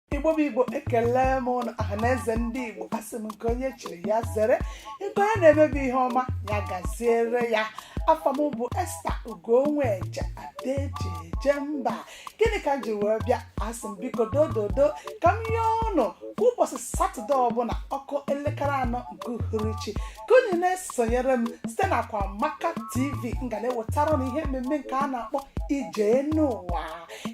igbo bụ igbo ekele m ụnụ ọha na eze ndị igbo asị m nke onye chiri ya zere nke onye na-emebe ihe ọma ya gaziere ya afa m bụ esta ugonweje ada eji eje mba gịnị ka m ji wee bịa asị m biko dododo ka m yọọ ụnụ kwa ụbọchị satọde ọbụla ọ kụọ elekere anọ nke uhuruchi ka unu na-esonyere m site na akwamaka tv m ga na-ewetara ụnụ ihe mmemme nke a na-akpọ ije enu ụwa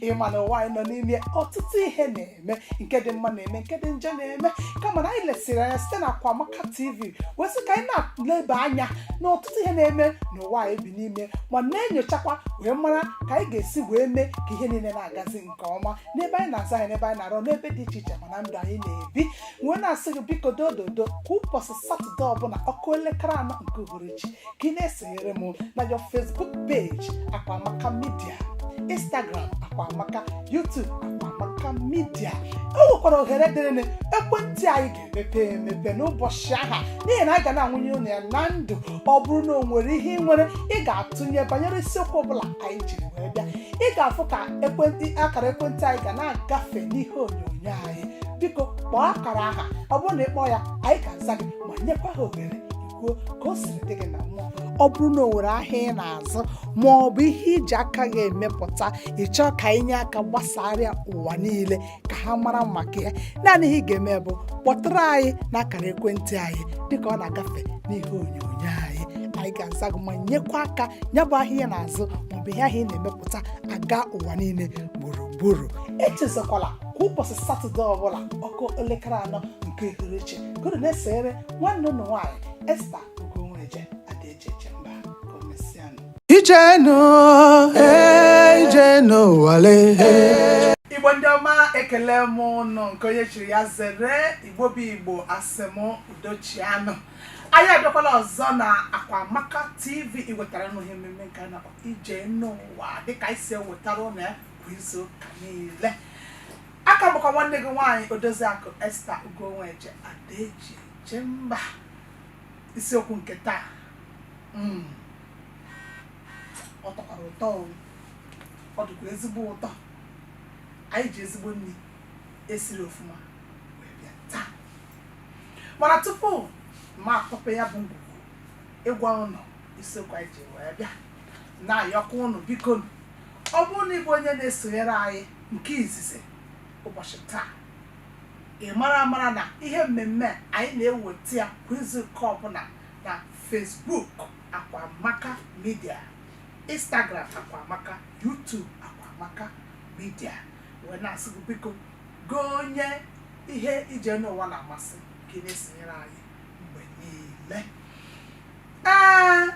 ị ma na ụwa anyị nọ n'ime ọtụtụ ihe na-eme nke dị mma na-eme nke dị njọ na-eme kama na anyị lesịrị anya site na Akwamaka TV wee sị ka anyị na-eleba anya na ọtụtụ ihe na-eme n'ụwa anyị bi n'ime ma na-enyochakwa wee mara ka anyị ga-esi wee mee ka ihe niile na-agazi nke ọma n'ebe anyị na-azụ ahịa n'ebe anyị na-arụ n'ebe dị iche iche ma na ndụ anyị na-ebi wee na-asị gị biko dododo kwa ụbọchị satọde ọbụla ọ kụọ elekere anọ nke uhuruchi ka ị na-esonyere m na your facebook page akwamaka media instagram akwamaka youtube akwamaka media o nwekwara ohere dịrị unu ekwentị anyị ga-emepe emepe n'ụbọchị ahụ n'ihi na anyị ga na-ebunye unu ya na ndụ ọ bụrụ na o nwere ihe ị nwere ị ga-atụnye banyere isiokwu ọbụla anyị jiri wee bịa ị ga-afụ ka ekwentị akara ekwentị anyị ga na-agafe n'ihe onyonyo anyị biko kpọọ akara ahụ ọ bụrụ na ị kpọọ ya anyị ga-aza gị ma nyekwa gị ohere kwuo ka o siri dị gị na mmụọ ọ bụrụ na o nwere ahịa ị na-azụ ma ọ bụ ihe i ji aka gị emepụta ị chọọ ka anyị nye aka gbasara ya ụwa niile ka ha mara maka ya naanị ihe ị ga-eme bụ kpọtụrụ anyị n'akara ekwentị anyị dịka ọ na-agafe n'ihe onyonyo anyị anyị ga-aza gị ma nyekwa aka ya bụ ahịa ị na-azụ maọbụ ihe ahụ ị na-emepụta aga ụwa niile gburugburu echezakwala kwa ụbọchị satọde ọbụla ọ kụọ elekere anọ nke uhuruchi ka ụnụ na-esoro nwanne ụnụ nwaanyị esta ugonweje ada eji eje mba ka o mesịanụ Ije enu, eh, ije enu ụwa lee. igbo ndị ọma ekele m ụnụ nke onye chiri ya zere igbo bụ igbo asị m udo chịanụ anyị abịakwala ọzọ na akwamaka tv iwetara ụnụ ihe mmemme nke a na-akpọ ije enu ụwa dịka anyị si ewetara ụnụ ya kwa izu ụka niile ọ ka bụkwa nwanne gị nwaanyị odoziakụ esta ugonweje ada eji eje mba isiokwu nke taa mm, ọ tọkwara ụtọ o. ọ dịkwa ezigbo ụtọ anyị ji ezigbo nri e siri ofuma wee bịa taa mana tupu m akpọpee ya bụ ngwugwu ịgwa ụnụ isiokwu anyị ji wee bịa na-ayọkwa ụnụ biko nụ, Ọ bụrụ na ị bụ onye na-esonyere anyị nke izizi ụbọchị taa, ị mara amara na ihe mmemme anyị na-eweta ya kwa izu nke ọbụla na Facebook Akwamaka Media, Instagram Akwamaka, YouTube Akwamaka Media. Wee na-asị gị biko gị onye ihe ije n'ụwa na-amasị ka ị na-esonyere anyị mgbe niile. Ee,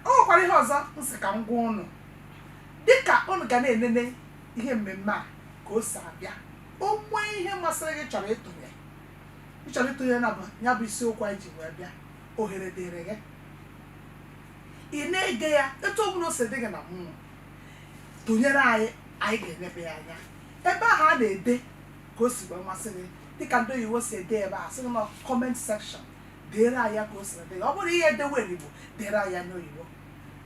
o nwekwara ihe ọzọ m sị ka m gwa ụnụ dịka ụnụ ga na-enene ihe mmemme a ka o si abịa o nwee ihe masịrị gị chọrọ ịtụnye ị chọrọ ịtụnye na ya bụ isiokwu anyị ji wee bịa ohere dịrị gị ị na-ege ya etu ọbụla o si dị gị na mmụọ tụnyere anyị anyị ga-enebe ya anya ebe ahụ a na-ede ka o si wee masị gị dịka ndị oyibo si ede ebe a sị gị na comment section deere anyị ya ka o si dị ọ bụrụ ihe edewe n'Igbo deere anyị ya n'oyibo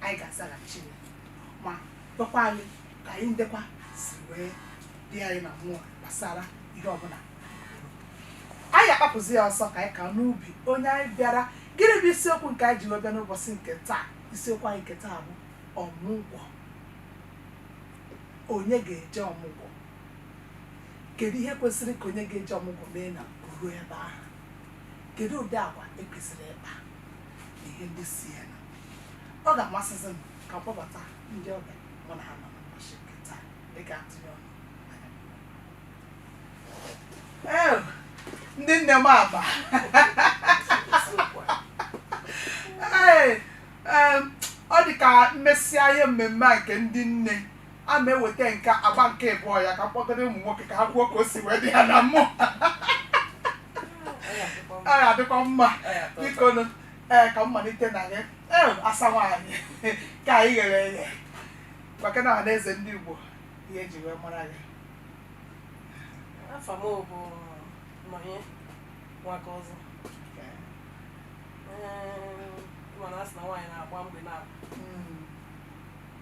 anyị ga-azaghachi ya ma gwakwa anyị ka anyị ndekwa si wee dị anyị na mmụọ gbasara ihe ọbụla anyị agbapụzi ya ọsọ ka anyị gaa n'ubi onye anyị bịara gịnị bụ isiokwu nke anyị ji wee bịa n'ụbọchị nke taa isiokwu anyị nke taa bụ ọmụgwọ onye ga-eje ọmụgwọ kedu ihe kwesịrị ka onye ga-eje ọmụgwọ mee ma o ruo ebe ahụ Kedu ụdị agwa e kwesịrị ịkpa na ihe ndị so ya nụ? Ọ ga-amasịzi m ka m kpọbata ndị ọbịa mụ na ha nọ n'ụbọchị nke taa dịka atụnye ọnụ anya m. Ee, ndị nne m abụọ Ee, em, ọ dị ka m mesịa ihe mmemme a nke ndị nne a m eweta nke agba nke ịbụọ ya ka m kpọkọrọ ụmụ nwoke ka ha kwuo ka o si wee dị ha na mmụọ ọ ga-adịkwa mma biko nụ ee ka m malite na gị ee asa nwaanyị ka anyị ghere eghe gwakene ọha na eze ndị Igbo ihe e ji wee mara gị afa m bụ Nọnye Nwakaọzọ Ee, mana a sị na nwaanyị na-agba mgbe na Mm,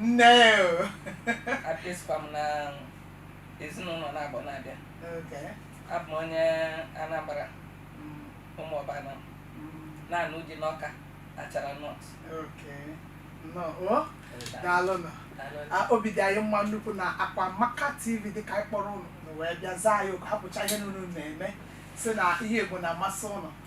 Nne, a bụzịkwa m n'ezinụnọ Nnagbo na Abịa. Okay. Abụ m onye Anambra. Ụmụọba Anam na-anụ uji n'Ọka Achara North. Okay. Nnọọ. Daalụ nụ. Obi dị anyị mma nnukwu na Akwamaka TV dị ka anyị kpọrọ ụnụ ụnụ wee bịa zaa anyị oku hapụcha ihe ụnụ na-eme si na ihe Igbo na-amasị ụnụ.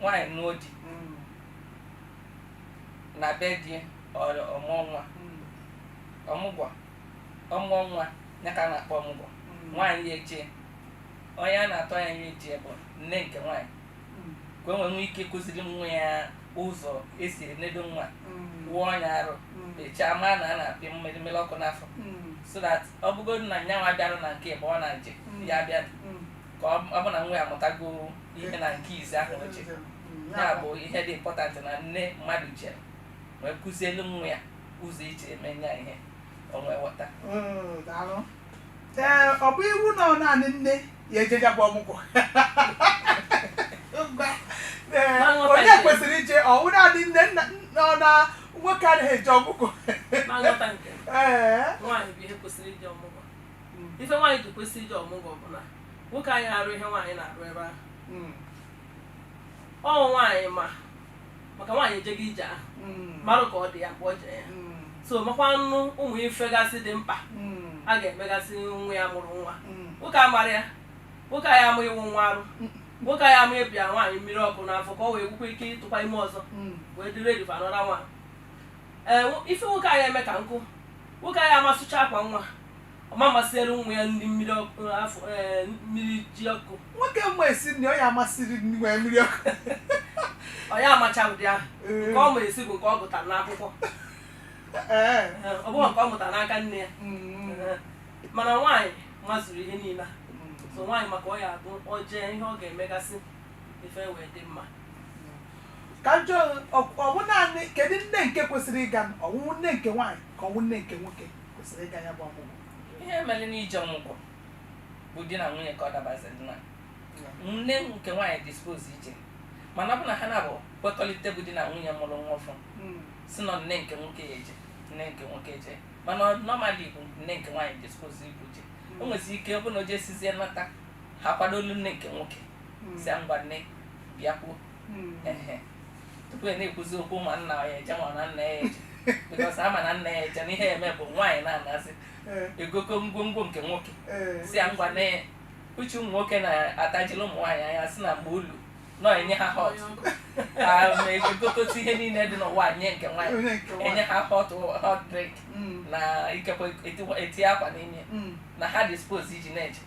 nwaanyị nụọ di mm. na be di ọ mụọ nwa mm. ọmụgwọ ọ mụọ nwa ya ka a na-akpọ ọmụgwọ mm. nwaanyị ya-eje onye a na-atụ anya ya-eje bụ nne nke nwaanyị ka o nwee ike ịkụziri nwa ya ụzọ e si enedo nwa wụọ nya arụ echaa maa na a na-apị mmiri mmiri ọkụ n'afọ so that ọ bụgodu na nyanwa bịara na nke ebe ọ na-eje ya bịa ka ọ ọ bụ na nwa ya amụtago ihe na nke izi ahụ o ji ya bụ ihe dị important na nne mmadụ je wee kụzielu nwa ya ụzọ e ji eme ya ihe o wee ghọta Mm, daalụ. ee ọ bụ iwu na ọ naanị nne ya-eje ya bụ ọmụgwọ Ee, Ma nghọta onye nke- kwesịrị ije ọ wụ naanị nne nna nna ọ na nwoke anaghị eje ọmụgwọ na nghọta nke m, ee nwaanyị bụ ihe kwesịrị ije ọmụgwọ ife nwaanyị ji kwesị ije ọmụgwọ bụ na nwoke aya arụ ihe nwaanyị na-arụ ebe ahụ ọ nwaanyị ma maka nwaanyị ejego ije ahụ marụ ka ọ dị ya mgbe o jere ya so makwanụ ụmụ ife gasị dị mkpa a ga-emegasị nwa ya mụrụ nwa nwoke amarọ ya nwoke aya ama ịwụ nwa arụ nwoke aya ama ịpịa nwaanyị mmiri ọkụ n'afọ ka o wee nwekwa ike ịtụkwa ime ọzọ wee dịrị edifa nọra nwa ee ife nwoke aya eme ka nkụ Nwoke aya ama asụcha akwa nwa, ọ ma ama siere nwa ya nri mmiri ọkụ afọ ee mmiri ji ọkụ. Nwoke ma esi nri, ọ ya ama esi nri nwee mmiri ọkụ. Ọ ya amacha ụdị ahụ. Ee. Nke ọ ma esi bụ nke ọ gụtara n'akwụkwọ. Ee. Ee, Ọ bụghị nke ọ mụtara n'aka nne ya. Mm. Ee, Mana nwaanyị mazuru ihe niile a. So nwaanyị ma ka ọ ya-abụ o jee ihe ọ ga-emegasị ife wee dị mma. ka m jụọ ọ wụ naanị kedu nne nke kwesịrị ịga ọ wụ nne nke nwaanyị ka ọ wụ nne nke nwoke kwesịrị ịga ya bụ ọmụgwọ ihe mere n'ije ọmụgwọ bụ di na nwunye ka ọ dabaziri na nne nke nwaanyị dị supposed ije mana ọ bụ na ha naabọ kwekọrịta bụ di na nwunye mụrụ nwa ọfụ hmm. sị na ọ nne nke nwoke ya-eje nne nke nwoke eje mana normally bụ nne nke nwaanyị dị supposed ibu je hmm. o nwezi ike ọ bụ na o jesizie nata ha kwadoolu nne nke nwoke hmm. sị ngwa nne bịakwuo hmm. tupu e na-ekwuzi okwu ma nna ya-eje ma na nna ya-eje because a ma na nna ya-eje na ihe e me bụ nwaanyị na-anasị eh. e gokọọ ngwongwo nke nwoke eh. sị ya ngwa nne uche ụmụ nwoke na-atajiri ụmụ nwaanyị anya sị na mgbe o lu na-enye ha hot e gogasị ihe niile dị n'ụwa nye nke nwaanyị enye ha hot hot drink hmm. na ikekwe eti akwa n'ime hmm. na ha dị supposed iji na-eje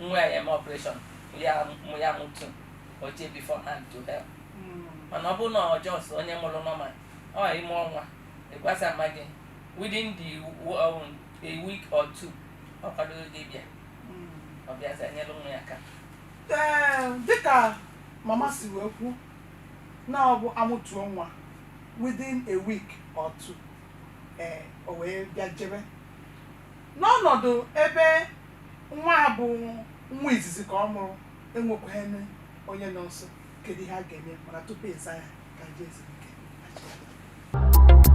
nwa ya eme operation ya mụ ya mụtu o je beforehand to help mana ọ bụrụ na ọ just onye mụrụ normal ọ ime ọnwa ịgwasa mama gị within the w- um, a week or two ọ kwadoghị gị bịa ọ bịazi enyere nwa ya aka Ee, dịka mama si wee kwu na ọ bụ amụtuo nwa within a week or two ee o wee bịa jebe n'ọnọdụ ebe Nwa a bụ nwa izizi ka ọ mụrụ enwekwaghị onye nọ nso, kedu ihe a ga-eme mana tupu ịza ya ka anyị jee zuru ike achịkọta.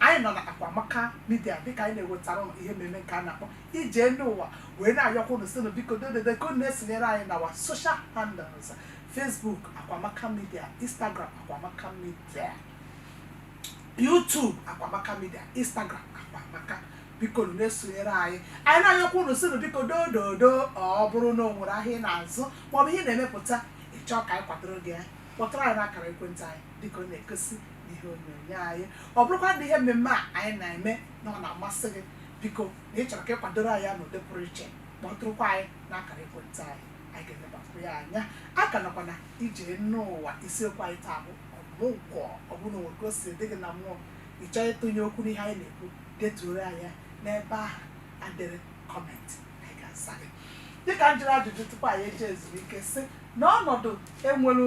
Anyị nọ na Akwamaka Media dịka anyị na-ewetara ụnụ ihe mmemme nke a na-akpọ Ije Elu Ụwa wee na-ayọkwa ụnụ sịnụ biko dododo ka ụnụ esonyere anyị na our social handles Facebook Akwamaka Media, Instagram Akwamaka Media, YouTube Akwamaka Media, Instagram Akwamaka bikonụ na-esonyere anyị anyị na-ayọkwa ụnụ sịnụ biko dododo ọ bụrụ na o nwere ahịa ị na-azụ maọbụ ihe ị na-emepụta ị chọọ ka anyị kwadoro gị ya kpọtụrụ anyị n'akara ekwentị anyị dịka ọ na-egosi n'ihe onyonyo anyị ọ bụrụkwa na ihe mmemme a anyị na-eme na ọ na-amasị gị biko na ị chọrọ ka ị kwadoro anyị ya n'ụdị pụrụ iche kpọtụrụkwa anyị n'akara ekwentị anyị anyị ga-elebakwu ya anya a ka nọkwa na Ije Enu Ụwa isiokwu anyị taa bụ ọmụgwọ ọ bụrụ na o nwee ka o si dị gị na mmụọ ị chọọ ịtụnye okwu n'ihe anyị na-ekwu detuoro anyị ya n'ebe ahụ e dere comment anyị ga-asa gị dịka m jụrụ ajụjụ tupu anyị eje zuru ike sị na ọnọdụ enwere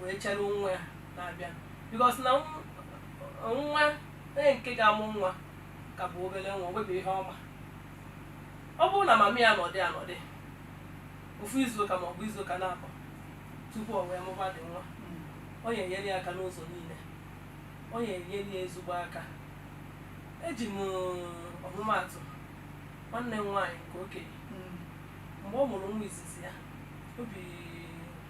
wee chere nwa ya na-abịa because na nwa onye nke ga-amụ nwa ka bụ obere nwa nwebe ihe ọ ma ọ bụrụ na mama ya nọdị anọdị ofu izuụka ma ọ bụ izuụka naabọ tupu o wee mụbadị nwa ọ ya enyere ya aka n'ụzọ niile ọ ya enyere ya ezigbo aka eji m ọmụmaatụ nwanne m nwaanyị nke okenye mgbe ọ mụrụ nwa izizi ya o bi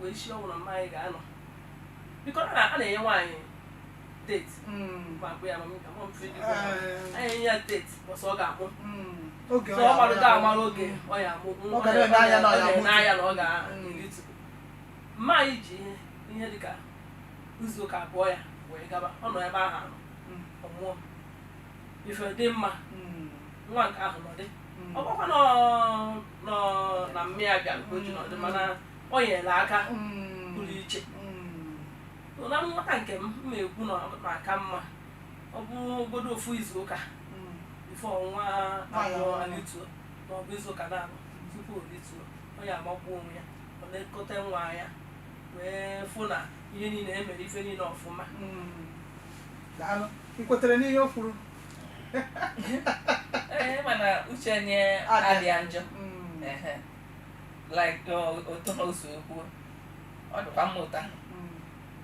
wee sie ọnwụ na mama anyị ga-anọ because a na-enye nwaanyị date Mm. ma akpụ ya ma m ka mụ mfe dị Eh. anyị enye ya date ụbọsị ọ ga-amụ Mm. Okay so ọ maradị amara oge ọ ya amụ Ọ ga na-ele anya na ọ ya amụ. n'anya na ọ ga-elitu mama anyị ji ihe ihe dịka izu ụka abụọ ya wee gaba ọ nọ ebe ahụ anọ Mm. ọ mụọ ife dị mma Mm. nwa nke ahụ nọdị Mm. ọ bụkwa na ọ- nọ na mmiri abịa nke o ji nọdụ mana o nyere aka Mm. pụrụ iche Mm. na nghọta nke m m ekwu na ọ na-aka mma ọ bụrụgodu ofu izu ụka Mm. before nwa Nwanyị abụọ ọhụrụ. alituo ma ọ bụ izu ụka naabọ tupu o rituo onye amakwa onwe ya ọ na-elekọta nwa ya wee fụ na ihe niile emere ife niile ọfụma Mm. daalụ m kwetara n'ihe o kwuru Ee, mana uche onye Adị. adịa njọ Mm, Ehe. like o- otu ahụ o si kwuo ọ dịkwa mma ụta mm.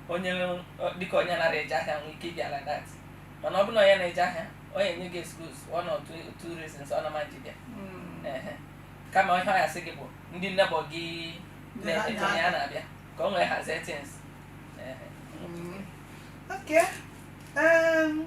onye ọ- dịka onye naghị eje ahịa nwee ike ịbịa like that mana ọ bụrụ na onye na-eje ahịa onye enye gị excuse one or two, two reasons ọ na-ama ji bịa Mm. Ehe. kama ihe ọ ya-asị gị bụ ndị neighbour gị Ndị na- na-eto onye a na-abịa ka o wee hazie things Ehe. Mm. Okay. Um,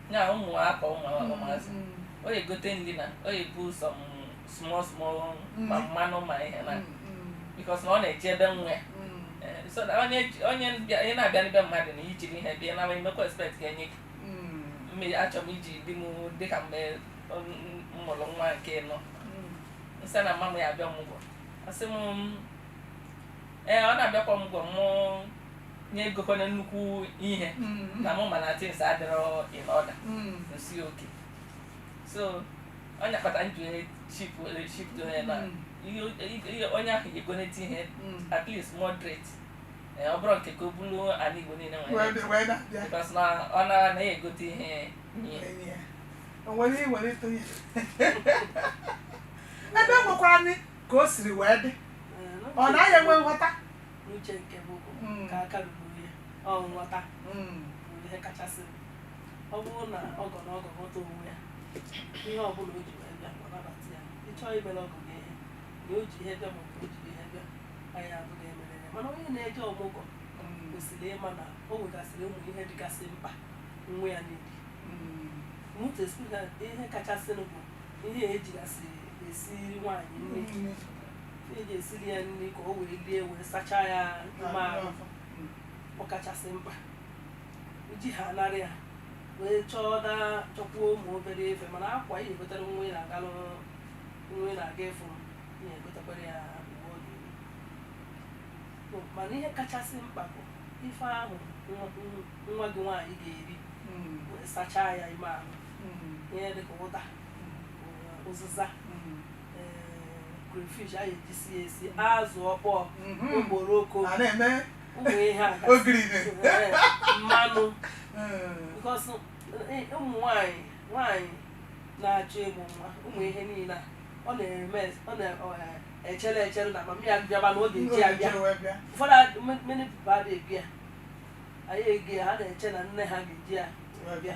ya ụmụaka ụmụazị ọ ya-egote ndị na ọ ya-ebu some small small ma mmanụ ma ihe na because na ọ na-eje ebe nwa so na onye onye ị na-abịa n'ebe mmadụ na i jighị ihe bịa na-emekwa expect ka enye gị mmiri achọrọ m iji di m dịka mgbe m mụrụ nwa nke anọ m sị na mama m ya-abịa ọmụgwọ asị m ee ọ na-abịakwa ọmụgwọ mụ ya egokwana nnukwu ihe na mụ ma na things adịrọ in order m sị okay so onye kpata njụ ship ship dị onye na onye ahụ ga-egote ihe at least moderate ọ bụrọ nke ka o bulu ala Igbo niile nwere because na ọ na anaghị egote ihe nye o nwere ihe nwere ịtụnye ebe nwekwara ka o siri wee dị Ee, n'uche ọ naghị enwe nghọta n'uche nke m bụ Mm. ka aka ruru ihe ọ nghọta Mm. bụ ihe kachasị ọ bụrụ na ọgọ na ọgọ ghọta onwe ya ihe ọ bụla o ji wee bịa ọ nabata ya ị chọọ imere ọgọ gị ihe na o ji ihe bịa ma ọ bụ o jighị ihe bịa anyị abụghị emere ya mana onye na-eje ọmụgwọ Mm. kwesịrị ịma na o nwegasịrị ụmụ ihe dịgasị mkpa nwa ya niile Mm. mụta ihe kachasịnụ bụ ihe ejigasị esiri nwaanyị nri ị ga-esiri ya nri ka o wee lie wee sachaa ya ime ahụ ọ kachasị mkpa iji ha anara ya wee chọọ na chọkwuo ụmụ obere ife mana akwa ị na-egotere nwa ị na-aga n'ụlọ nwa ị na-aga ịfụ ị na-egotekwara ya uwe ọ ga-eyi. So, mana ihe kachasị mkpa bụ ife ahụ nwa- nwa gị nwaanyị ga-eri wee sachaa ya ime ahụ ihe dịka ụda uziza crayfish a ga-ejisi ya esi azụ ọkpọọ okporoko a na-eme ụmụ ihe a gasị. ogiri Ee, mmanụ because eh, ụmụ nwanyị nwanyị na-achọ ịmụ nwa ụmụ ihe niile a ọ na-eme ọ na-echere echere na mama ya bịaba na ọ ga-eji abịa ụfọdụ ad- m- many people adịghị ebi ya anyị ego ya ha na-eche na nne ha ga-eji ya wee bịa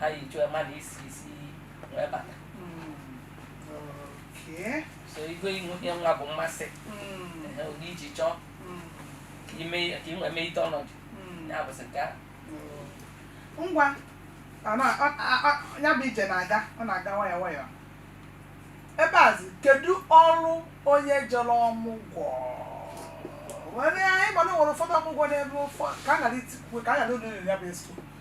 ha yi chụọ mmadụ isi isi wee bata Okay. so igwe ihu ihe nwa bụ mmasị Mm, Ehe, ụdị iji chọọ mm, ka ime ka inwe mee ite ọnọdụ mm. ya bụsị nke ahụ ngwa ọ na- ọ- a- a- ya bụ ije na-aga ọ na-aga nwayọọ nwayọọ ebe a zi kedu ọrụ onye jere ọmụgwọ nwere anyị ma na e nwere ụfọdụ ọmụgwọ n'ebe ụfọdụ ka a gara itikwu ka a gara ụlọ ya bụ esko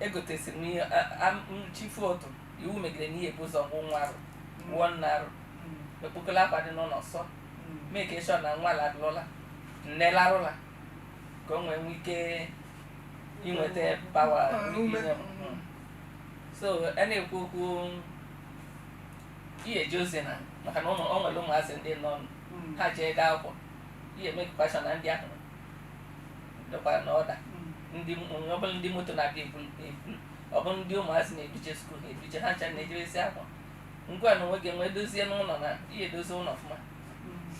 egotesiri m ihe a- a- m chi fo ụtụtụ iwu megidere na ihe bu ụzọ wụọ nwa arụ wụọ nne arụ ekpokọla akwa dị n'ụlọ sụọ make sure na nwa larụ ụla nne larụ ụla ka o nwee nwee ike inweta pawa Ah, ume. ime mmụọ. so a na-ekwu okwu ihe eji ozi na maka na ụmụ o nwere ụmụazị ndị nọ ha je-aga akwụkwọ i mekwaa sure na ndị ahụ dịkwara na order ndị ọ bụla ndị moto na-abịa ebu ebu ọ bụ ndị ụmụazị na-eduje skuul eduje ha ncha na-ejebesi akwa ngwa na onwe gị nwee dozie n'ụlọ na ihe edozi ụlọ ọfụma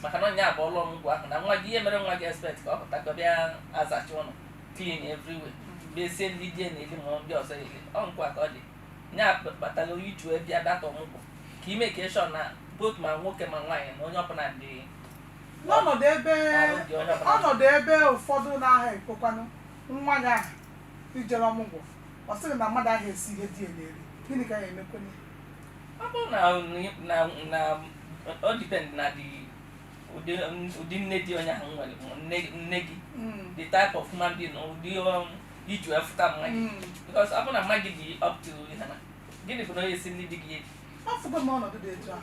maka na ọ ya bụ ọlụ ọmụgwọ ahụ na nwa gị ihe mere nwa gị expect ka ọ pụta ka ọ bịa azacha ụlọ clean everywhere bezie nni di ya na-eli ma ndị ọzọ eli ọkwa ka ọ dị nya kpatara i ji wee bịa that ọmụgwọ ka i make sure na both ma nwoke ma nwaanyị na onye ọbụla dị n'ọnọdụ ebe ọnọdụ ebe ụfọdụ na-aha ekwekwanụ nwanyị ahụ i jere ọmụgwọ ọ sịrị na mmadụ aha esi ihe di ya na-eri gịnị ka ị ya-emekwanụ ọ bụrụ na na na ọ depend na dị ụdị ụdị nne dị onye ahụ nwere ma nne nne gị Mm, the type of human being na ụdị um, i ji afụta mama gị mm. because ọ bụrụ na mama gị dị up to ihe na gịnị bụ na onye si nni di gị eri afụgo m ọnọdụ dị etu ahụ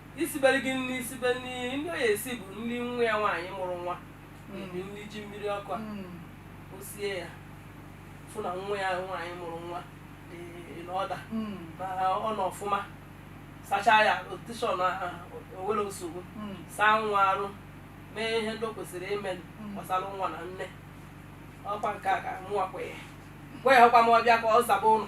isibere gị nri isibe nri nri ọ ya-esi bụ nri nwa ya nwaanyị mụrụ nwa na-eri nri ji mmiri ọkụ a o sie ya fụ na nwa ya nwaanyị mụrụ nwa dị n'order na ọ nọ ọfụma sachaa ya otishọn o nwere nsogbu saa nwa arụ mee ihe ndị o kwesịrị ime gbasara nwa na nne ọkwa nke a ka mụwa kwenye gwa ya ọkwa ma ọ bịa ka ọ zaba ụlọ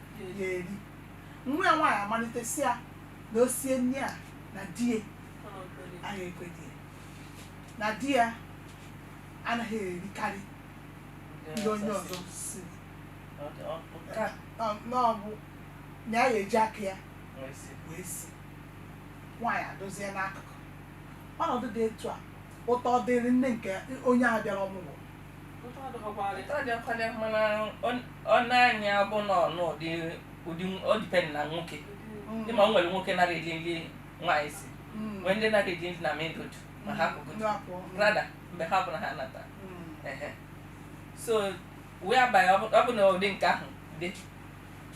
ya eri nwa ya nwaanyị amalite sị ya na o sie nri a na di ya anaghị ekwe di ya na di ya anaghị erikarị nri onye ọzọ siri ka ọ- na ọ bụ na ya ga-eji aka ya wee sie nwaanyị adozie n'akụkụ ọnọdụ dị etu a ụtọ dịrị nne nke onye a bịara ọmụgwọ ọnanya bụ na ọnụdị ụdị ọ depend na nwoke dị ma o nwere nwoke nara eli nri nwaanyị si nwee ndị nara eli nri na mendod ma ha kụgụdụ rada mgbe ọbụla ha nata so wee abalị ọ bụ na ụdị nke ahụ dị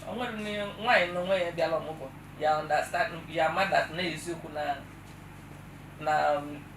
o nwere nwaanyị na onwe ya bịala ọmụgwọ ya understand ya mara na eziokwu na na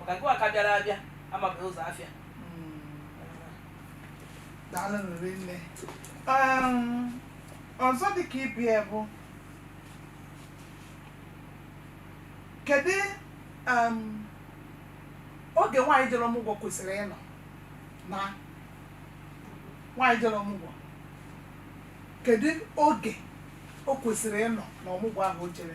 maka nke a ka bịara abịa amabeghị ụzọ afịa daalụ rinne Um, ọzọ dịka ibe ya bụ kedu um, oge nwaanyị jere ọmụgwọ kwesịrị ịnọ na nwaanyị jere ọmụgwọ kedu oge o kwesịrị ịnọ na ọmụgwọ ahụ o jere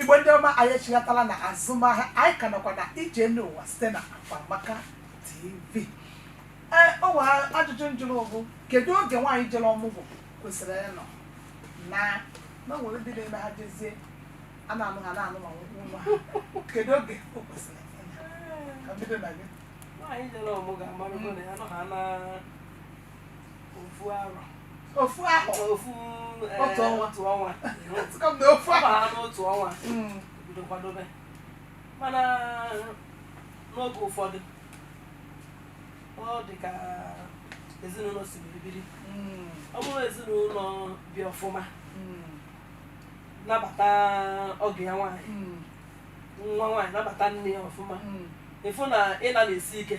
Igbo ndị ọma anyị echighatala na azụmahịa anyị ka nọkwa na ije elu ụwa site na Akwamaka TV ee o nwere ajụjụ m jụrụ bụ kedu oge nwaanyị jere ọmụgwọ kwesịrị ịnọ na na o nwere ndị na-eme ha jezie ha na-anọ ha na-anọ ma nwụkwụ nwa ha kedu oge o kwesịrị ịnọ ka m bido na gị nwaanyị jere ọmụgwọ amarugo na ya nọ ha na ofu ahụ ofu eh, otu ọnwa otu ọnwa ofu ahụ ha n'otu ọnwa hmm. bido kwadobe mana n'oge ụfọdụ ọ dị ka ezinụlọ si biri biri hmm. ọ bụrụ ezinụlọ bi ọfụma hmm. nabata ọgọ ya nwaanyị nwa nwaanyị nabata nne ya ọfụma ị fụ na ịna na-esi ike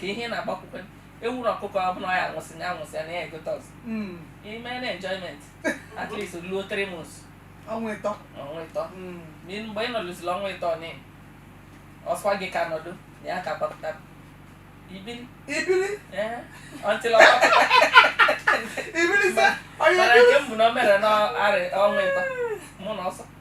ka ihe ị na-agbakwukwe ewuru ọkụkọ ọ bụla ọ ya anwụsị ya anwụsị ya na ya egote ọzọ Mm. ime na enjoyment at least luo three months ọnwa ịtọ ọnwa ịtọ Mm. Ma ị- mgbe ị nọlụziri ọnwa ịtọ na ọ sọwa gị ka nọdụ na ya ka gbapụta ibili ibili ee until ọ gbapụta ibili sị onye Mana nke m bụ na o mere n'ọnwa ịtọ mụ na ọsọ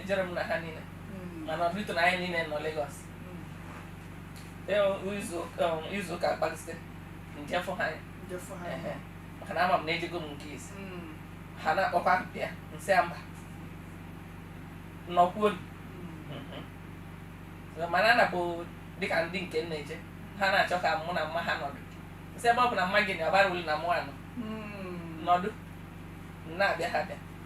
ejere m na ha niile mana ọdịtụ na anyị niile nọ Lagos izu ụka kpalite m je fụ ha anya maka na ama m na ejego m nke isi ha na-akpọkwa ya m sị mba nọkwuo mana ọ na-abụ dịka ndị nke nna eje ha na-achọ ka mụ na mma ha nọdụ m sị ebe ọ bụ na mma gị na-abara ulu na mụ anọ nọdụ na-abịa ha bịa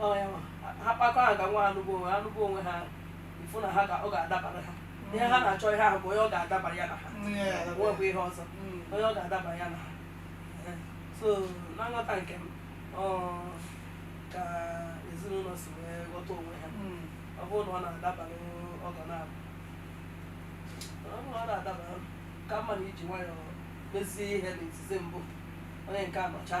Ọ ya nwa. Ha kpakọ aka nwa ha lụgbuo onwe ha lụgbuo onwe ha ịfụ na ha ga ọ ga-adabara ha ihe ha na-achọ ihe ahụ bụ onye ọ ga-adabara ya na ha nwebụ ihe ọzọ onye ọ ga-adabara ya na ha Eh, so na nghọta nke m ọ ka ezinụlọ si wee ghọta onwe ha ọ bụrụ na ọ na-adabara ọgọ na-abụ ọ bụrụ na ọ na-adabara ka mma na e ji nwayọọ mezie ihe na izizi mbụ onye nke anọcha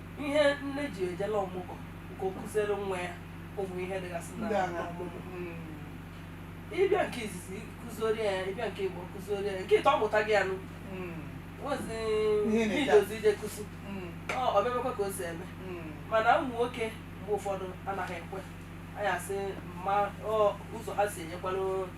Ihe nne ji eje na ọmụgwọ nke ọ kụziere nwa ya ụmụ ihe dịgasị na ọmụmụ ị bịa nke izizi kụzioro ya ị bịa nke ibuo kụzioro ya nke ịtọ ọ mụta gị anụ nwezi idozi ije kụzi o mebekwa ka o si eme mana ụmụ nwoke mgbe ụfọdụ anaghị ekwe anyị asị ma ụzọ ha si enyekwara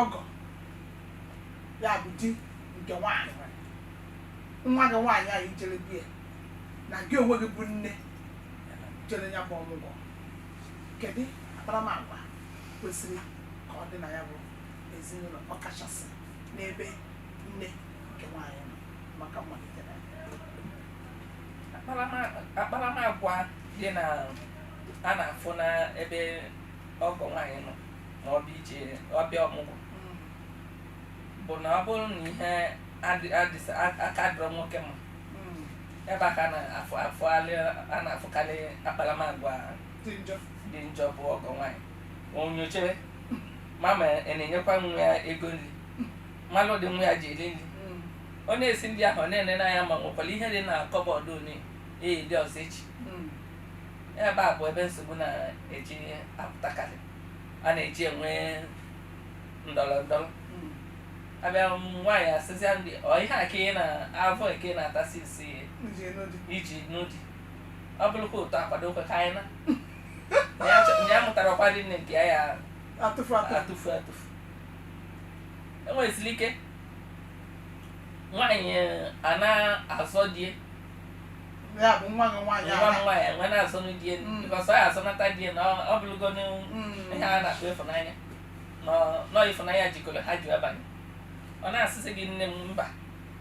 ọgọ ya bụ di nke nwaanyị nwa gị nwaanyị ahụ i jere be ya na gị onwe gị bụ nne jere ya bụ ọmụgwọ kedu akparamagwa kwesịrị ka ọ dị na ya bụ ezinụlọ ọkachasị n'ebe nne nke nwaanyị nọ maka mmalite na akparamagwa dị na a na-afụ n'ebe ọgọ nwaanyị nọ ma ọ bụ ije ọbịa ọmụgwọ bụ na ọ bụrụ na ihe adị- adịsa a- aka dịrọ nwoke mma ebe a ka a na-afụ afụgharị a na-afụkarị akparamagwa dị njọ dị njọ bụ ọgọ nwaanyị o nyochere ma ma ị na-enyekwa nwa ya ego nri ma n'ụdị nwa ya ji eri nri ọ na-esi nri ahụ ọ na-ene n'anya ma e nwekwara ihe dị na cupboard unu eri ọzọ echi Ihe ebe a bụ ebe nsogbu na-eji apụtakarị a na-eji enwe ndọrọ ndọrọ a bịa nwaanyị asịzịa ndị ọ ihe a ka ị na-avọ eke na-atasi isi Ije n'ụdị. iji n'ụdị ọ bụrụkwa ụtọ akwado okwe ka anyị na na ya chọ- na ya mụtara ọkwa dị nne nke ya ya Atụfu atụfu. atụfu atụfu e nwezili ike nwaanyị a na-azọ di ya ya bụ nwa gị nwaanyị nwa m ahụ. nwaanyị nwe na-asọnụ di elu Mm. because ọ ya asọnata di elu ọ- ọ bụrụgo n'ihu Mm. ihe a na-akpọ ịfụnanya nọ- na ọ ịfụnanya jikọrọ ha ji abanye ọ na-asịzị gị nne m mba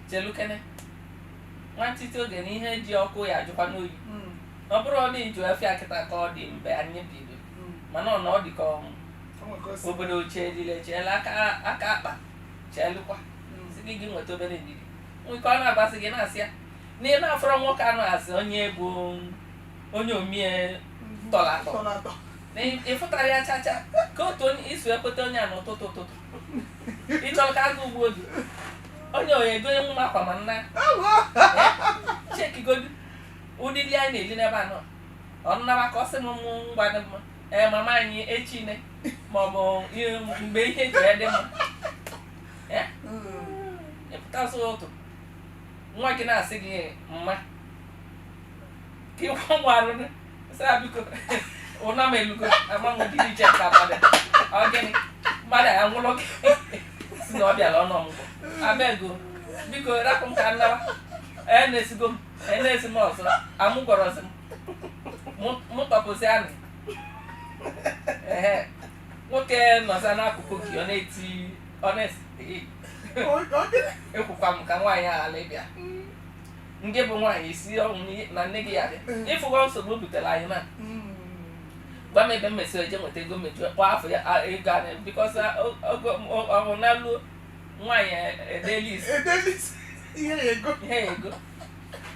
chelukene nwantịtị oge na ihe ji ọkụ ya ajụkwanụ oyi Mm. na ọ bụrụ na ịjụ afịa kịta ka ọ dị mgbe anyị biri Mm. mana ọ na ọ dị ka ọnwụ O nwere ka o si- obodo chee dile cheela aka aka akpa cheelụkwa Mm. si gị gị nweta obere ndidi nwoke ọ na-agwazi gị na-asị ya na ị na-afọrọ nwoke anụ asị onye bụ onye omie tọrọ atọ Tọrọ atọ. na ị- ị fụtara ya chacha ka otu onye iso ekweta onye a n'ụtụtụ ụtụtụ ị chọrọ ka agụụ gbuo gị onye oyi egonye nwa akwa ma nna checkigodu ụdị nri anyị na-eli n'ebe a na ọ naba ka ọ sị m mụ ngwa dị mma ee mama anyị echine maọbụ ihe- mgbe ihe ji ya dị mma Eh? Hmm. ị pụta ụzọ ụtụtụ nwa gị na-asị gị mma ka ịkwa nwa arụ sị ya biko ụna m elugo ama m gịnị je ka mmadụ ọ gịnị mmadụ ya-anwụrụ gị si na ọ bịara ịnọ ọmụgwọ abeg o biko rapụ m ka m nawa ee na-esigo m ee na-esi m ọzọ amụ gwọrọzi m mụ tọpụzi anụ ehe nwoke nọza n'akụkụ gị ọ na-eti ọ na-asị ekwukwa m ka nwaanyị a ghara ịbịa nne gị bụ nwaanyị isi ọnwụ n'ihe- na nne gị ya dị ị fụgo nsogbu o butere anyị na gwa m ebe m mesịrị eje nweta ego mmeju kpọọ afọ ya a- ego anyị because oge ọnụna luo nwaanyị edee list edee list ihe ị ya-ego ihe ị ya-ego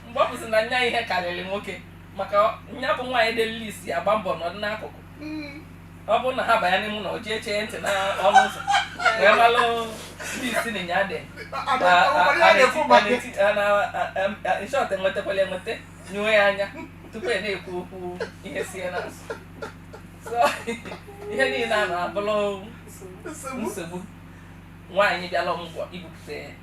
mgbe ọ bụzi na nya ihe karịrị nwoke maka nya bụ nwaanyị edee list ya gba mbọ nọ n'akụkụ ọ bụrụ na ha banye n'ime ụlọ jee chee ntị n'ọnụ ụzọ wee malụ ndị isi na ya dị in short enwetakwala enweta nyuwe ya anya tupu ị na-ekwu okwu ihe sie n'azụ ihe niile a na-abụrụ nsogbu nwaanyị bịala ọmụgwọ ibupụta ya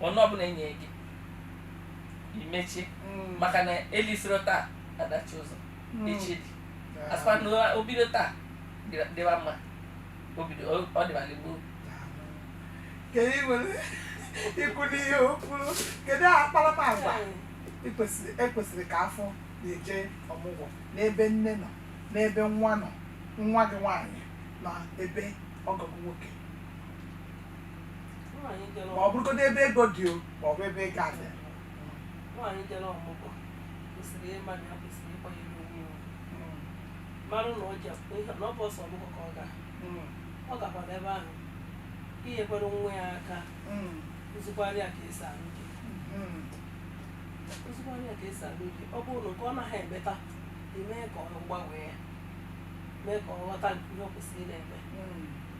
ọnụ ọbụla e nye gị i mechie Mm. maka na e lisiro taa adachi ụzọ Mm. echi dị Ah, a sịkwa na o- o bido taa dịra- dịwa mma o bido o- ọ dịwala gboo ka ị nwere ikwu n'ihe o kwuru kedu akparamagwa ị kwesịrị e kwesịrị ka a fụ n'ije ọmụgwọ n'ebe nne nọ n'ebe nwa nọ nwa gị nwaanyị na ebe ọgọ gị nwoke ma ọ bụrụgodo ebe ego dị o ma ọ bụ ebe ego adị nwaanyị jere ọmụgwọ kwesịrị ịma na ya kwesịrị ịkwanyere onwe ya ugwu. marụ na ọ ji akwụkwọ ihe na ọ bụrọ sọ ọmụgwọ ka ọ ga ọ gakwara ebe ahụ inyekwara nwa ya aka kụzikwara ya ka esi alụ di kụzikwara ya ka esi alụ di ọ bụrụ na nke ọ naghị emeta o mee ka ọ gbanwee ya mee ka ọ ghọta ihe ọ kwesịrị na-eme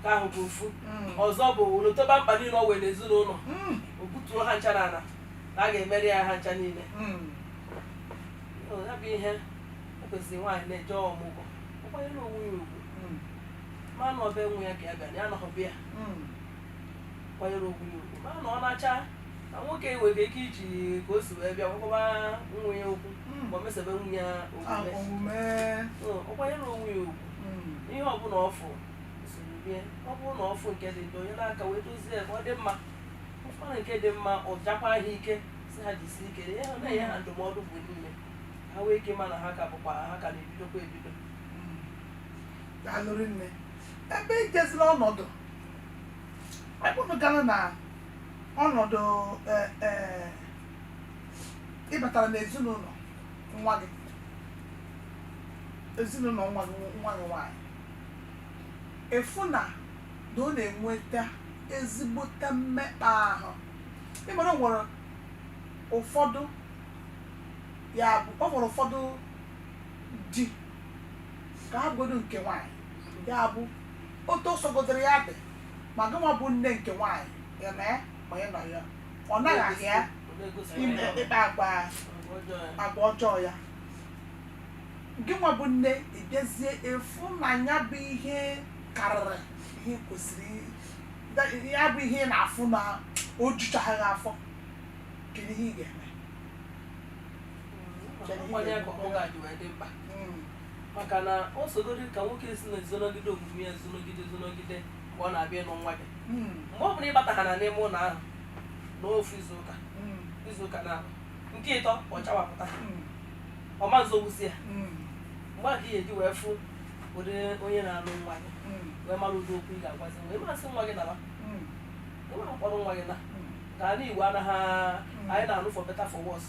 nke ahụ bụ ofu Mm. ọzọ bụ o lotaba mkpa niile o nwere n'ezinụlọ Mm. o butuo ha ncha n'ala na a ga-emeri ya ha ncha niile Mm. Ọ, ya bụ ihe o kwesịrị nwaanyị na-eje ọmụgwọ ọ kwanyere onwe ya ugwu Mm. ma na ọ be nwa ya ka ya bịa na ya anọghọ be ya Mm. kwanyere onwe ya ugwu ma na ọ na-acha na nwoke nwere ike iji ka o si wee bịa gwakọba nwa ya okwu Mm. ma o mesobe nwa ya Ah, omume omume. Ọ, ọ kwanyere onwe ya ugwu ihe ọbụla ọ fụ usoro bie ọ bụrụ na ọ fụ nke dị njọ o nye aka wee dozie ya ka ọ dị mma ọ fụ nke dị mma ọ jakwa ha ike sị ha jisi ike ihe ha na-enye ha ndụmọdụ mgbe niile ha nwee ike ma na ha ka bụkwa ha ka na-ebidokwa ebido daalụ rinne ebe ijezila ọnọdụ ọ bụrụ gara na ọnọdụ eh, eh, ị batara n'ezinụlọ nwa gị ezinụlọ nwa gị nwa gị nwaanyị ị fụ na na ọ na-enweta ezigbote mmekpa ahụ ị mara o nwere ụfọdụ ya bụ ọ nwere ụfọdụ dị ka ha godo nke nwaanyị ya bụ otu o sogodoro ya dị ma gịnwa bụ nne nke nwaanyị ya na ya ma ya nọ ya ọ naghaghị ya ime ịkpa agwa agwa ọjọọ ya gị nwa bụ nne ị bịazie fụ na ya bụ ihe karịrị ihe kwesịrị i- ya bụ ihe ị na-afụ na o juchaghị gị afọ kedu ihe ị ga-eme nkwanye akụ ọ ga-adị wee dị mkpa Mm. maka na o sogoro ka nwoke si na-ezonogide omume ya zonogide zonogide mgbe ọ na-abịa ịnụ nwa gị mgbe ọ nụrụ ya bata ha nọ n'ime ụlọ ahụ n'ofu izuụka izuụka na nke ịtọ ọ chawapụta ọ ma nzobezi ya mgbe a ka ị ga-eji wee fụ ụdị onye na-alụ nwa gị wee mara ụdị okwu ị ga-agwazi ị ma sị nwa gị naba ị ma mkpọrọ nwa gị naa ka ala igbo anaghị anyị na-alụ for better for worse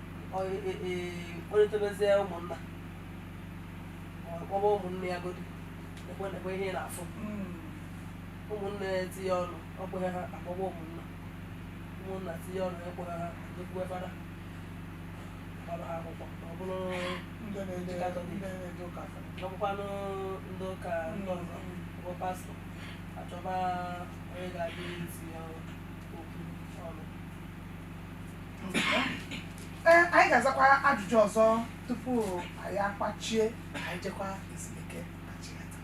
kpọrịtabezie ụmụnna kpọba ụmụnne ya godi ekwe na ekwe ihe ị na-afụ ụmụnne ya etinye ọnụ o kweghị ha akpọba ụmụnna ụmụnna tinye ọnụ o kweghị ha ejekwuwe fada gbara ha akwụkwọ ma ọ bụrụ ndị na-eje Katọlik. ndị na-eje ụka fada. ọ bụkwanụ ndị ụka ndị ọzọ bụ pastọ achọba onye ga-edozi ya okwu ee anyị ga-azakwa ajụjụ ọzọ tupu anyị akpọchie ka anyị jekwa ezumike na chighata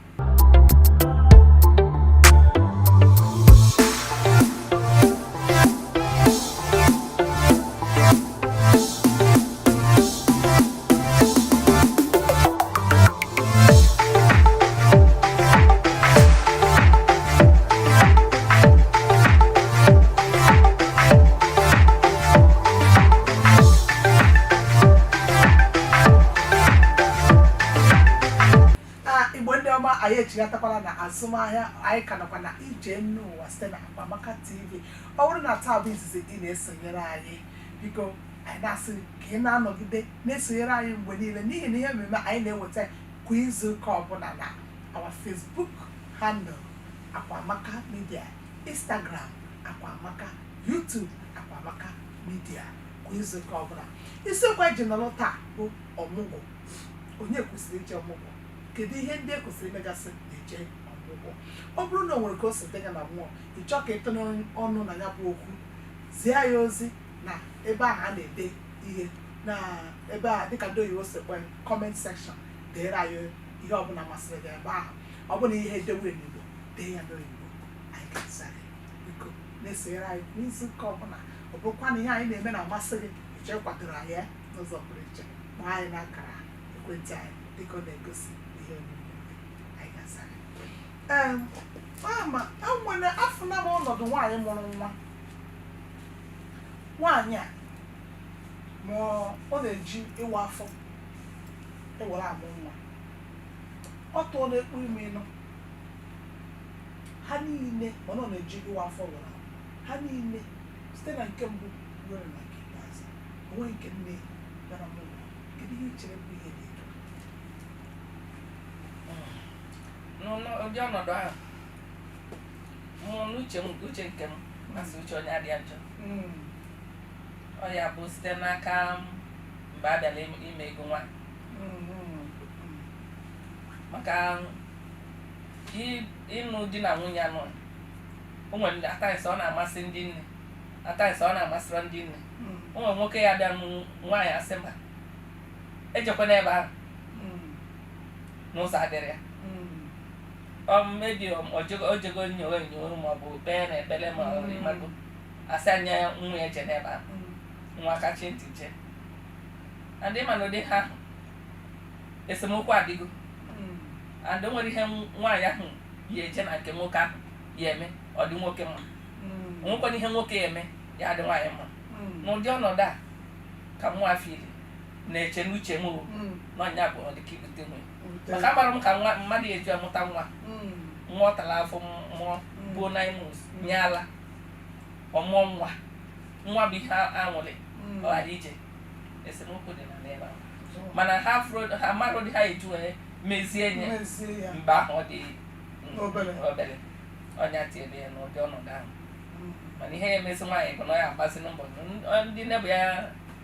Thank chighatakwala na azụmahịa anyị ka nọkwa na ije enu ụwa site na Akwamaka TV ọ bụrụ na taa bụ izizi ị na-esonyere anyị biko Anyị na-asị gị ka ị na-anọgide na-esonyere anyị mgbe niile n'ihi na ihe mmemme anyị na-eweta kwa izu ụka ọbụla na our Facebook handle Akwamaka Media, Instagram Akwamaka, YouTube Akwamaka Media kwa izu ụka ọbụla. Isiokwu anyị ji nọrọ taa bụ ọmụgwọ. Onye kwesịrị ije ọmụgwọ? Kedu ihe ndị e kwesịrị imegasị ma e jee ọmụgwọ? Ọ bụrụ na o nwere ka o si dị gị na mmụọ, ị chọọ ka ị tụnye ọnụ na ya bụ okwu, zie anyị ozi na ebe ahụ a na-ede ihe na ebe a dịka ndị oyibo si kpọọ ya comment section deere anyị ihe ọbụla masịrị gị ebe ahụ ọ bụrụ na ihe edewe n'igbo dee ya n'oyibo anyị ga-aza gị biko na-esonyere anyị n'izu ụka ọbụla ọ bụrụkwa na ihe anyị na-eme na-amasị gị ị chọọ ịkwadoro anyị ya n'ụzọ pụrụ iche kpọọ anyị na akara ekwentị anyị dịka ọ na-egosi ihe omume gị. anyị ga-aza gị Em, ama e nwere afọ na ọnọdụ nwaanyị mụrụ nwa nwaanyị a ma ọ na-eji ịwa afọ were amụ nwa ọ tụọ na-ekpu ime ịnọ ha niile ma ọ na-eji ịwa afọ were amụ ha niile site na nke mbụ ruo na nke ikpeazụ o nweghị nke nne gara ọmụgwọ kedu ihe i chere bụ ihe dị etu a? n'ụdị ọnọdụ ahụ mụ n'uche m uche nke m ma a sị uche onye adịa njọ Mm. ọ ya bụ site n'aka m mgbe a bịara im- ime ego nwa Mm, mm, maka i- ịnụ di na nwunye anụ o nwere ndị at times ọ na-amasị ndị nne at times ọ na-amasịrọ ndị nne mm, o nwere nwoke ya abịa ịnụ nwaanyị a sị mba ejekwana ebe ahụ mm, na ụzọ adịrọ ya mm, maybe o jego nyowe nyowe ma ọ bụ kpee n'ekpere ma ọ bụ ị mago a sị nwa ya ejena ebe ahụ nwa kachi ntị je and ị ma na ụdị ihe ahụ esemokwu adịgo and o nwere ihe nwaanyị ahụ ya eje na nke nwoke ahụ ya eme ọ dị nwoke mma o nwekwanụ ihe nwoke ya eme ya adị nwaanyị mma n'ụdị ọnọdụ a ka nwa afọ iri na-eche n'uche m o na ọ ya bụ ọ dị ka ibute nwunye maka agbara m ka nwa mmadụ eji amụta nwa nwa ọ tara afụfụ mụọ buo nine months nye ala ọ mụọ nwa nwa bụ ihe anwụrị ọ ghara ije esemokwu dị na n'ebe ahụ mana ha ha mmadụ dị ha eju wee mezie nye mgbe ahụ ọ dị obere ọnya tiebe ya n'ụdị ọnọdụ ahụ mana ihe ya emezi nwaanyị bụ na ọ ya agbazi mbọ ndị nebụ ya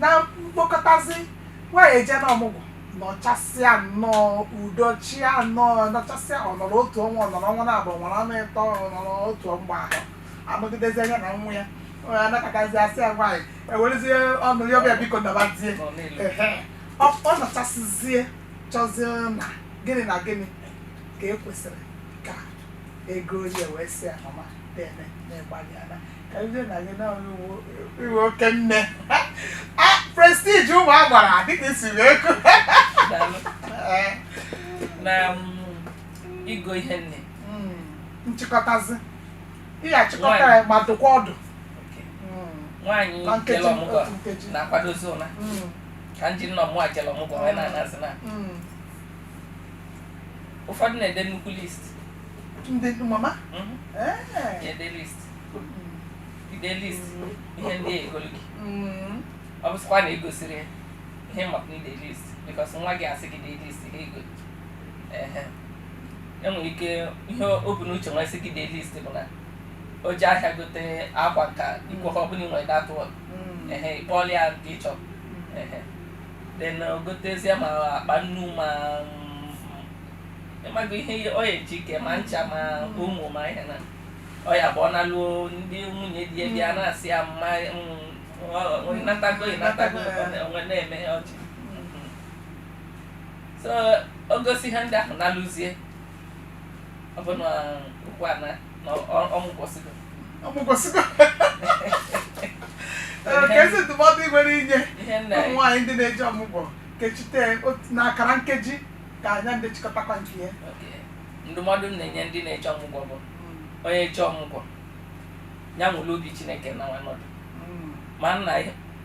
na mkpokọtazi nwaanyị eje na ọmụgwọ nọchasịa nnọọ udo chịa nnọọ nọchasịa ọ nọrọ otu ọnwa ọ nọrọ ọnwa naabọ nwere ọnwa ịtọ ọ nọrọ otu ọgba ahụ anọgidezi anya na nwa ya onye anakọtazi asị ya nwaanyị ewerezie ọnụ ya ọbịa biko nabazie Ehe. ọ ọ nọchasịzie chọzie na gịnị na gịnị ka e kwesịrị ka e gonye ya wee sị ya mama dene na ị gbalịana prestige ụmụ agbara dịka i siri ekwu na igo ihe nne nchịkọtazi ị ga-achịkọta ya ma dụkwa ọdụ nwaanyị Na nkeji, jere ọmụgwọ otu nkeji. na-akwadozi ụla Mm, ka ndị nne ọma jere ọmụgwọ wee na-anazi na mm. ụfọdụ na-ede nnukwu list ndị mama Mhm. Eh. na-ede list ide list ihe ndị a ya-egolu gị ọ bụsịkwa na e gosịrị ya ihe ma ọ bụrụ na i de list because nwa gị asị gị de list gị ego ehe e nwere ike ihe o bu n'uche wee sị gị de list bụ na o je ahịa gote akwa ka ike ha ọ bụrụ na i nwere datụ ehe ịkpọọla ya nke ị chọrọ ehe then o gotezie ma akpa nnu ma mm, ị mago ihe o ji ike ma ncha ma ụmụ ma ihe na ọ ya bụ ọ nalụo ndị nwunye di ya bịa na-asị ya mama natago natago onwe na-eme ọchị so o gosi ihe ndị ahụ na-alụzie ọ bụ na okwu a na ọnwụ kwụsịgo ọnwụ kwụsịgo kedụzi ndụmọdụ ị nwere inye ụmụ nwaanyị ndị na-eje ọmụgwọ kechite n'ọkara nkeji ka anya ndị chịkọtakwa nke ya ndụmọdụ m na-enye ndị na-eje ọmụgwọ bụ onye eje ọmụgwọ ya nwere obi chineke na nwanọdụ ma nna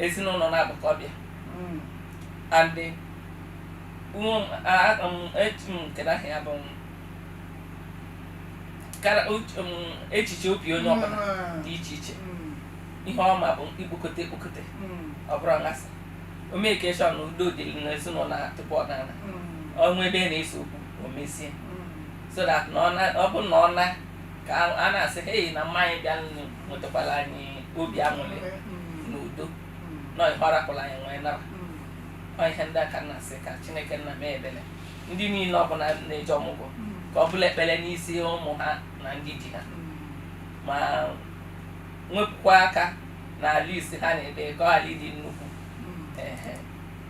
ezinụlọ na-abụkọ ọbịa andị kedahị ya bụ echiche obi onye ọbụla dị iche iche ihe ọma bụ ikpokote ekpokote ọ bụrụ nghasa ọ make sure na udo dịrị n'ezinụlọ tupu ọ naa o nwee ebe na-ese okwu o mezie so that na ọ na- ọ bụ na ọ na ka a- a na-asị hei na mama anyị bịanụ wetakwala anyị obi aṅụrị na udo na ọ gbarapụla anyị wee nara ọ ihe ndị a ka m na-asị ka chineke nna mee ebere ndị niile ọbụla na-eje ọmụgwọ ka ọ bụrụ ekpere n'isi ụmụ ha na ndị di ha ma wepụkwa aka na list ha na-ede ka ọ ghara ịdị nnukwu Ehe.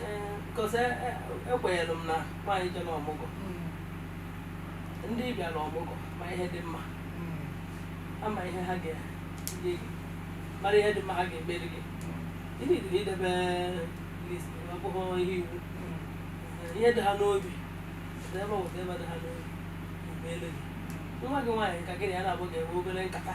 Ee, because e- e- ekwenyere m na nwaanyị jere ọmụgwọ ndị bịara ọmụgwọ ma ihe dị mma ama ihe ha ga-enye gị mara ihe dị mma ha ga-emere gị ị needirọ idebe list ọ bụghị ihe iwu Ee, ihe dị ha n'obi ebe ọgwụ ebe dị ha n'obi emeelụ gị nwa gị nwaanyị ka gị na ya na-abụ ga-enwe obere nkata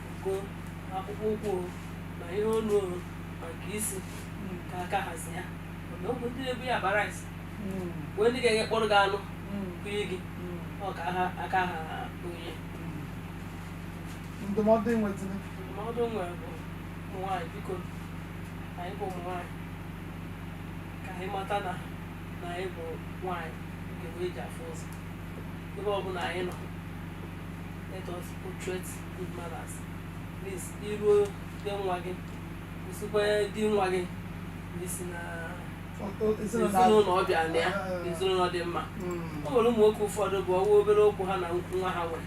ugo ma akpụkpọ ụkwụ o ma ihe olu o ma nke isi ka aka hazi ya mana ọ bụ ndị na-ebu ya akpa rice nwee ndị ga-eje kpụrụ gị anụ bunye gị ọ ka aka ha onye ndụmọdụ ị nwetara ndụmọdụ m nwere bụ ụmụ nwaanyị biko anyị bụ ụmụ nwaanyị ka anyị mata na na anyị bụ nwaanyị nke wee ji afụ ụzọ ebe ọ bụla anyị nọ let us portray good manners please iruo be nwa gị gosikwa di nwa gị na i si na ezinụlọ ọ bịara na ya ezinụlọ dị mma o nwere ụmụ nwoke ụfọdụ bụ ọwa obere okwu ha na nwa ha were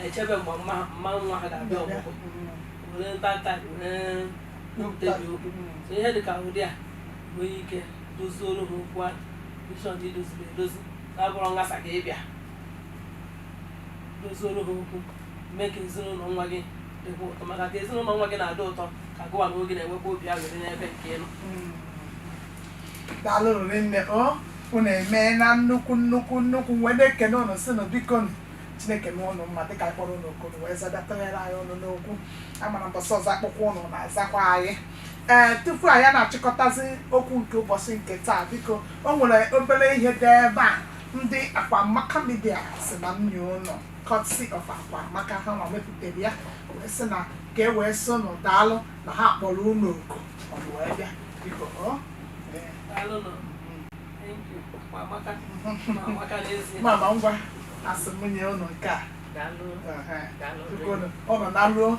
echebe mgbe mama nwa ha ga-abịa ọmụgwọ were ntanta were nkwutebi okwu so ihe dị ka ụdị a nwee ike doziere ha okwu ahụ make sure i doziri edozi na ọ bụrọ nghasa ka ị bịa dozioro ha okwu mee ka ezinụlọ nwa gị dịkwa ụtọ maka ka ezinụlọ nwa gị na-adị ụtọ ka gụwa na onwe gị na-enwekwa obi aṅụrị n'ebe nke ị nọ daalụ rinne o unu emeena nnukwu nnukwu nnukwu wee na-ekene ụnụ sị nụ biko nụ chineke mee ụnụ mma dịka a kpọrọ ụnụ oku ụnụ wee zaa tinyere anyị ọnụ n'okwu a mara mbọsị ọzọ a kpọkuo ụnụ na-azakwa anyị ee tupu anyị na-achịkọtazi okwu nke ụbọchị nke taa biko o nwere obere ihe dị ebe a Ndị Akwamaka Media sị na m nye ụnụ courtesy of Akwamaka ha nwa mepụtara ya wee sị na ka e wee sị ụnụ daalụ na ha kpọrọ ụnụ oku ụnụ wee bịa biko ọ ee, Daalụ nụ. Thank you. Akwa amaka. Ma amaka n'ezie. mama ngwa a sị m nye ụnụ nke a Daalụ. Ehe. Daalụ. Biko, ụnụ- ụnụ na ruo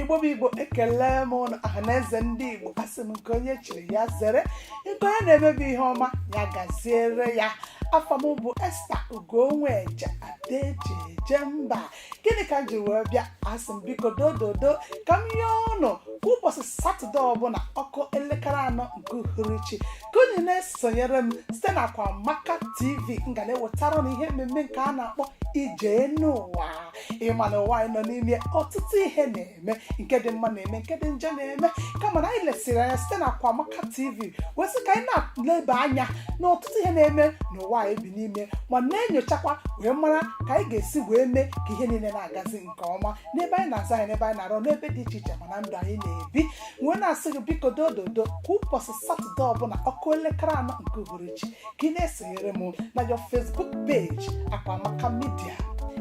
igbo bụ igbo ekele m ụnụ ọha na eze ndị igbo asị m nke onye chiri ya zere nke onye na-emebe ihe ọma ya gaziere ya afa m bụ esta ugonweje ada e ji eje mba gịnị ka m ji wee bịa asị m biko dododo ka m yọọ ụnụ kwa ụbọchị satọde ọbụla ọ kụọ elekere anọ nke uhuruchi ka unu na-esonyere m site na akwamaka tv m ga na-ewetara unu ihe mmemme nke a na-akpọ ije enu ụwa ị ma na ụwa anyị nọ n'ime ọtụtụ ihe na-eme nke dị mma na-eme nke dị njọ na-eme kama na anyị lesịrị anya site na Akwamaka TV wee sị ka anyị na-eleba anya na ọtụtụ ihe na-eme n'ụwa anyị bi n'ime ma na-enyochakwa wee mara ka anyị ga-esi wee mee ka ihe niile na-agazi nke ọma n'ebe anyị na-azụ ahịa n'ebe anyị na-arụ n'ebe dị iche iche ma na ndụ anyị na-ebi wee na-asị gị biko dododo kwa ụbọchị satọde ọbụla ọ kụọ elekere anọ nke uhuruchi ka ị na-esonyere m na your Facebook page Akwamaka Media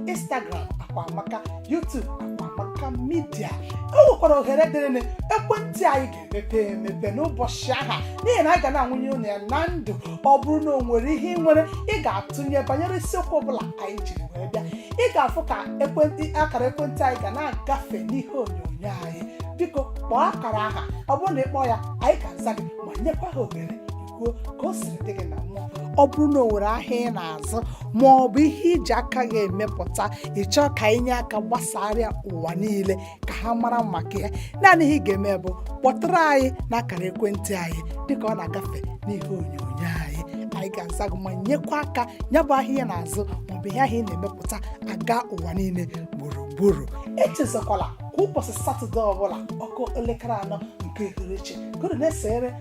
Instagram Akwamaka YouTube Akwamaka Media o nwekwara ohere dịrị ụnụ ekwentị anyị ga-emepe emepe n'ụbọchị aha n'ihi na anyị ga na-ebunye ụnụ ya na ndụ ọ bụrụ na o nwere ihe ị nwere ị ga-atụnye banyere isiokwu ọbụla anyị jiri wee bịa ị ga-afụ ka ekwentị akara ekwentị anyị ga na-agafe n'ihe onyonyo anyị biko kpọọ akara aha ọ bụrụ na ị kpọọ ya anyị ga-aza gị ma nyekwa gị ohere kwuo ka o siri dị gị na mmụọ ọ bụrụ na o nwere ahịa ị na-azụ ma ọ bụ ihe i ji aka gị emepụta ị chọọ ka anyị nye aka gbasara ya ụwa niile ka ha mara maka ya naanị ihe ị ga-eme bụ kpọtụrụ anyị n'akara ekwentị anyị dịka ọ na-agafe n'ihe onyonyo anyị anyị ga-aza gị ma nyekwa aka ya bụ ahịa ị na-azụ maọbụ ihe ahụ ị na-emepụta agaa ụwa niile gburugburu echezakwala kwa ụbọchị satọde ọbụla ọ kụọ elekere anọ nke uhuruchi gụrụ na-esere